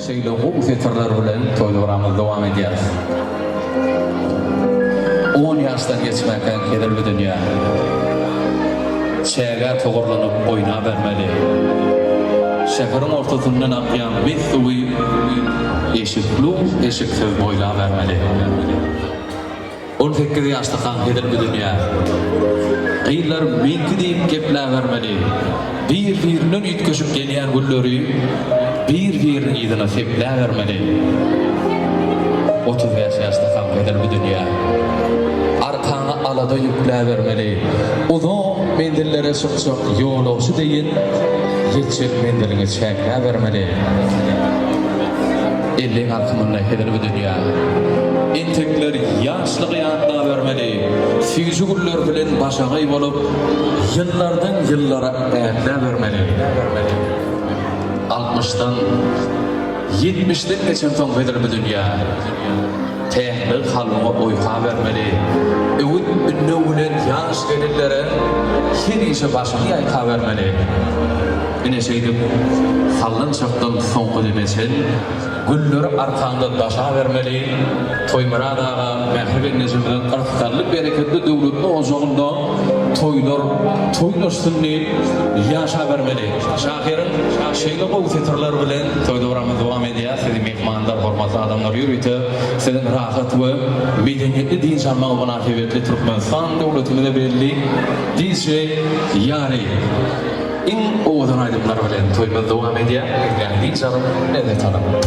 Şeýle gowy setirler bilen toýlygramyzy dowam edýäris. On ýaşdan geçmäkäň hezil bu dünýä. Çägä togurlanyp oýnabermeli. Şäheriň ortasyndan akýan mis suwy eşiklu-eşiksiz boýlabermeli. On sekiz ýaşlykaň hezil düzünýär. Gyzlar meňki diýip gepläbermeli. Bir-birinden üýtgeşik gelýän gülleri bir-biriniň yzyna sepläbermeli. Otuz bäş ýaşlykaň hezil düzünýär. Arkaňa alada ýükläbermeli. Uzak menzillere çykjak ýolagçy deýin ýetjek menziliňi çäkläbermeli. Elleň arkamynda heder bu dünýä. Entekler ýaşlygy ýatlabermeli, süýji güller bilen başagaý bolup, ýyllardan ýyllara ätläbermeli. Altmyşdan, ýetmişden geçensoň heder bu dünýä. Päklik kalbyňa oýka bermeli, öwüt-ündew bilen ýaş gelinlere hemişe başyňy ýaýkabermeli. Ine şeýdip, sallançakdan soňky deme çen gülleri arkaňda daşabermeli. Toýmyrat aga Mähriban enejemiziň yrsgally, bereketli, döwletli ojagynda toýlar toýlaşsyn diýip ýaşabermeli. Şahyryň şeýle gowy setirleri bilen toý dowramyzy dowam edýär. Sizi myhmanlar, hormatly adamlar ýörite siziň rahat we medeniýetli dynç almagyňyz mynasybetli Türkmenistan döwletimize belli DJ Ýary. Iň owadan aýdymlar bilen toýumyz dowam edýär. Gelýän hiç agyr, lezzet alyň.